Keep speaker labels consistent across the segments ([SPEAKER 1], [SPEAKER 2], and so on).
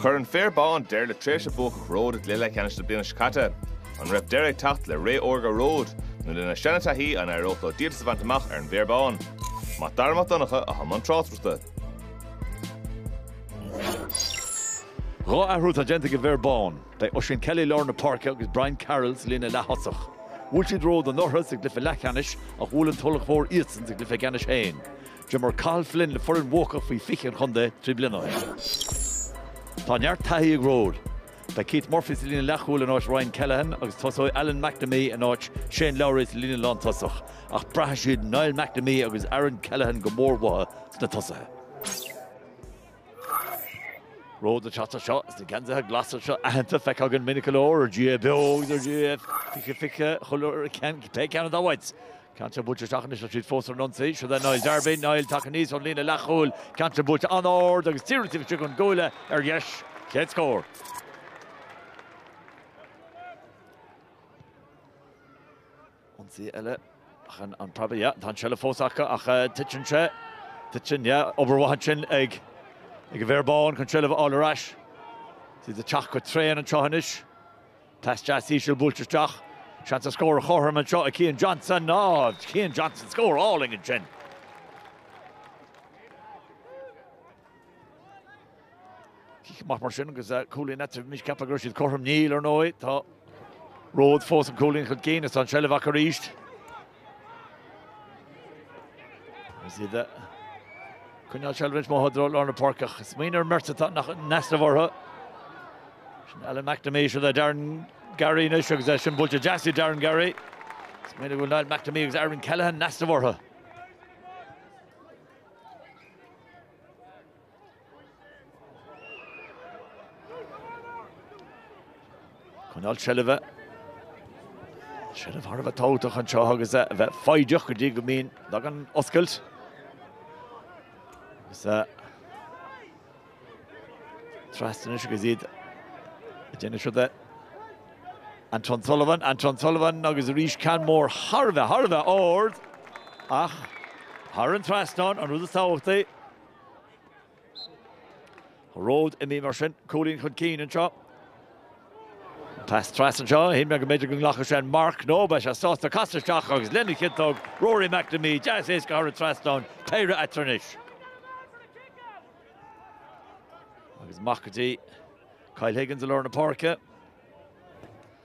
[SPEAKER 1] Chuir an Féar Bán deireadh le tréimhse buacach Ród i gcluiche leathcheannais na bliana seo caite. An raibh deireadh ag teacht le ré órga Ród? Nó lena seanataithí, an éireodh leo díoltas a bhaint amach ar an bhFéar Bán? Mac Dara Mac Donncha i bhun na
[SPEAKER 2] tráchtaireachta. Dhá athrú atá déanta ag an bhFéar Bán. Beidh Oisín Kelly i lár na páirce agus Brian Carroll sa líne leath-thosach. Bhuail siad Ród anuraidh sa gcluiche leathcheannais ach bhuail an Tulach Mhór iadsan sa gcluiche ceannais féin. D'imir Cathal Flynn le foireann bhuacach faoi 20 an chontae trí bliana ó shin. Tá neart taithí ag Ród. Tá Keith Murphy sa líne leathchúil in áit Ryan Callaghan agus tosóidh Alan McNamee in áit Shane Lowry sa líne lántosach, ach braithfidh siad Niall McNamee agus Aaron Callaghan go mór uathu sna tosaithe. Ród atá anseo sna geansaithe glasa seo aitheanta, feicthe againn minic go leor ar GAA beo agus ar GAA 2020 cibé cén áit. Ceann ard buailte isteach anois agus siad fós ar an ionsaí. Siúd é Niall Darby. Niall, tagtha aníos ón líne leathchúil. Ceann ard buailte an-ard agus díreach taobh istigh ón gcuaille, ar dheis. Chéad scór. Ionsaí eile ach an preabadh. Yeah, tá an seilbh fós acu ach titeann sé. Titeann, yeah. Obair mhaith ansin ag an bhFéar Bán chun seilbh a fháil ar ais. Siad ag teacht go tréan anseo anois. Pas deas íseal buailte isteach. Seans an scór a chothromú anseo ag Cian Johnson. Ná raibh Cian Johnson scór álainn ansin. Cic maith mar sin agus cúilín eile bhí mise ag ceapadh go raibh siad cothrom. Níl, ar ndóigh. Tá Ród fós an cúilín chun cinn. Is tá an seilbh acu arís. Is iad ag coinneáil seilbhe i bhfad ró-dhlúth lár na páirce ach. Smaoinigh ar an mbeirt atá nach in easnamh orthu sin Alan McNamee, siúd le Darren Garry anois agus é sin buailte deas ag Darren Garry. Smaoinigh go bhfuil Niall McNamee agus Aaron Callaghan in easnamh orthu. Coinneáil seilbhe. Seilbh thar a bheith tábhachtach anseo agus a bheith foighdeach go dtí go mbíonn leagan oscailt. Trasna anois agus iad ag déanamh siúd é Anton Sullivan, Anton Sullivan agus arís ceann mór thar a bheith thar a bheith ard ach thar an trasnán an rud is tábhachtaí. Ród imithe mar sin, cúilín chun cinn anseo. Pas trasna anseo, shíl mé go mb'fhéidir go nglacfadh sé an marc, no, bhí sé sásta casadh isteach agus lena chiotóg Rory McNamee deas éasca thar an trasnán, péire eatarthu anois. Agus amach go dtí Kyle Higgins i lár na páirce.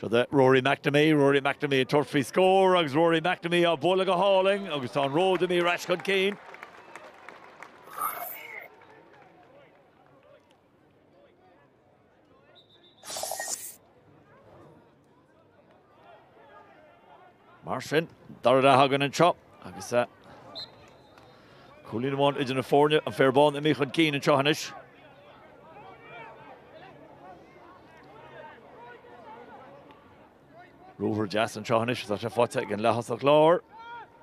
[SPEAKER 2] Siúd é Rory McNamee, Rory McNamee ag tabhairt faoi scór agus Rory McNamee á bhualadh go hálainn agus tá an Ród imithe ar ais chun cinn. Mar sin, dara leath againn anseo agus cúilín amháin idir na foirne, an Féar Bán imithe chun cinn anseo anois. Ruathar deas anseo anois, tá sé faighte ag an leath-thosach láir.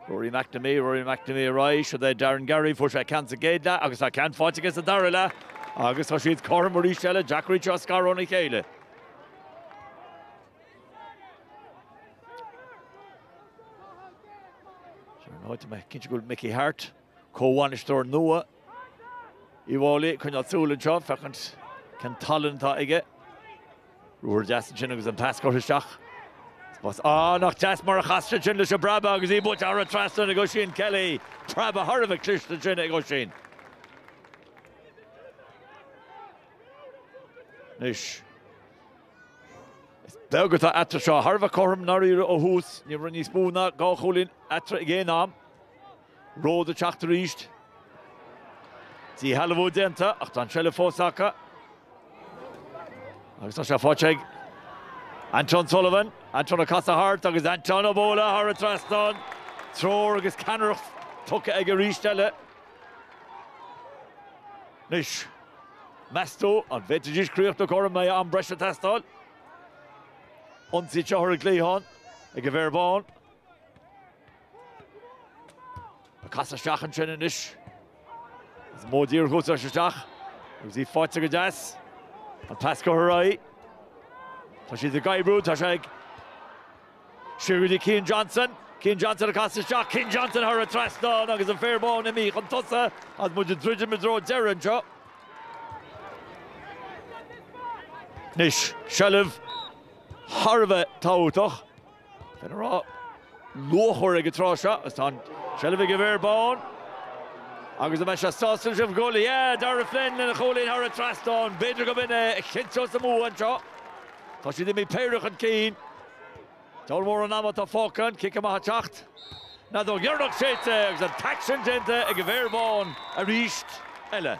[SPEAKER 2] Rory McNamee, Rory McNamee ar aghaidh, siúd é Darren Garry, fuair sé ceann sa gcéad leath agus tá ceann faighte aige sa dara leath agus tá siad cothrom arís eile, deacair iad seo a scaradh óna chéile. Is ar ndóigh, tá mé cinnte go bhfuil Mickey Harte. Comhbhainisteoir nua Uíbh Fháilí ag coinneáil súil anseo féachaint cén tallann atá aige. Ruathar deas ansin agus an pas curtha isteach. Spás ah nach deas mar a chas sé ansin leis an bpreabadh agus í buailte thar an trasnán ag Oisín Kelly. Preabadh thar a bheith cliste ansin ag Oisín. Anois is beag atá eatarthu seo. Thar a bheith cothrom, i ndáiríre, ó thús. Ní raibh níos mó ná dhá chúilín eatarthu ag aon am. Ród ag teacht arís. Díshealbhú déanta ach tá an seilbh fós acu. Agus tá sé faighte ag Anton Sullivan. Anton ag casadh thart agus Anton ag bualadh thar an trasnán. Treoir agus ceannaireacht tugtha aige arís eile. Anois, meas tú an bhféadfaidís críochnú cothrom, an mbeidh am breise ag teastáil? Ionsaí anseo ar an gcliathán ag an bhFéar Bán. Ag casadh isteach ansin anois. Is modh díreach úsáid isteach. Agus í faighte go deas. An pas curtha ar aghaidh. Tá siad ag oibriú, tá sé ag siúd é Cian Johnson. Cian Johnson ag casadh isteach, Cian Johnson thar an trasnán agus an Féar Bán imithe chun tosa agus muid ag druidim i dtreo deireadh anseo. Anois, seilbh thar a bheith tábhachtach. Finn Ará luachmhar ag an tráth seo agus tá an tseilbh ag an bhFéar Bán agus an mbeidh sé sásta leis an ghoal? Yeah! Darragh Flynn lena chúilín thar an trasnán. B'fhéidir gurb in é a chinnteos a mbua anseo. Tá siad imithe péire chun cinn. Diabhal mórán ama atá fágtha, an cic amach ag teacht. An fheadóg dheireanach séidte agus an t-aicsean déanta ag an bhFéar Bán arís eile.